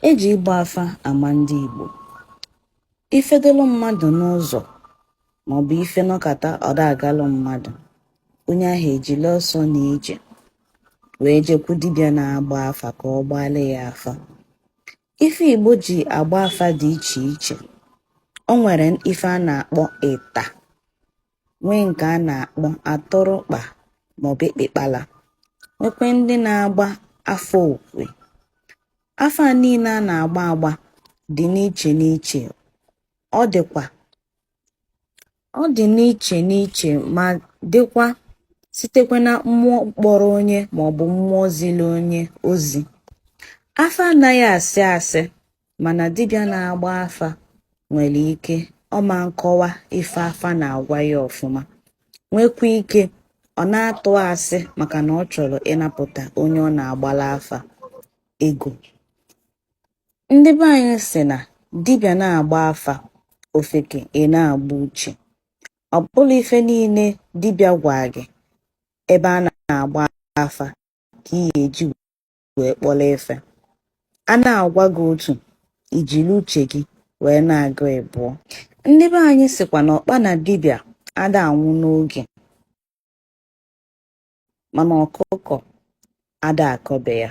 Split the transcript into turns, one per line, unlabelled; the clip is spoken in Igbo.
E ji ịgba afa ama ndị Igbo. Ife dolu mmadụ n'ụzọ maọbụ ife nọkata ọ da agalụ mmadụ, onye ahụ ejili ọsọ na ije wee jekwu dibịa na-agba afa ka ọ gbaala ya afa. Ife Igbo ji agba afa dị iche iche. O nwere ife a na-akpọ ịta. nwee nke a na-akpọ atụrụkpa maọbụ ekpekpala nwekwe ndị na-agba afa okwe afa niile a na-agba agba dị n'iche n'iche ọ dịkwa ọ dị n'iche n'iche ma dịkwa sitekwa na mmụọ kpọrọ onye maọbụ mmụọ zili onye ozi afa anaghị asị asị mana dibịa na-agba afa nwere ike ọ ma nkọwa ife afa na-agwa ya ọfụma nwekwa ike ọ na-atụ asị maka na ọ chọrọ ịnapụta onye ọ na-agbara afa ego ndị be anyị sị na dibịa na-agba afa ofeke ị na-agba uche ọ bụrọ ife niile dibịa gwa gị ebe a na-agba afa ka ị ga-eji wee kpọrọ ife. A na-agwa gị otu, i jiri uche gị wee na-agụ ịbụọ. Ndị be anyị sịkwa na ọkpa na dibịa ada anwụ n'oge mana ọkụkọ ada akọ be ya.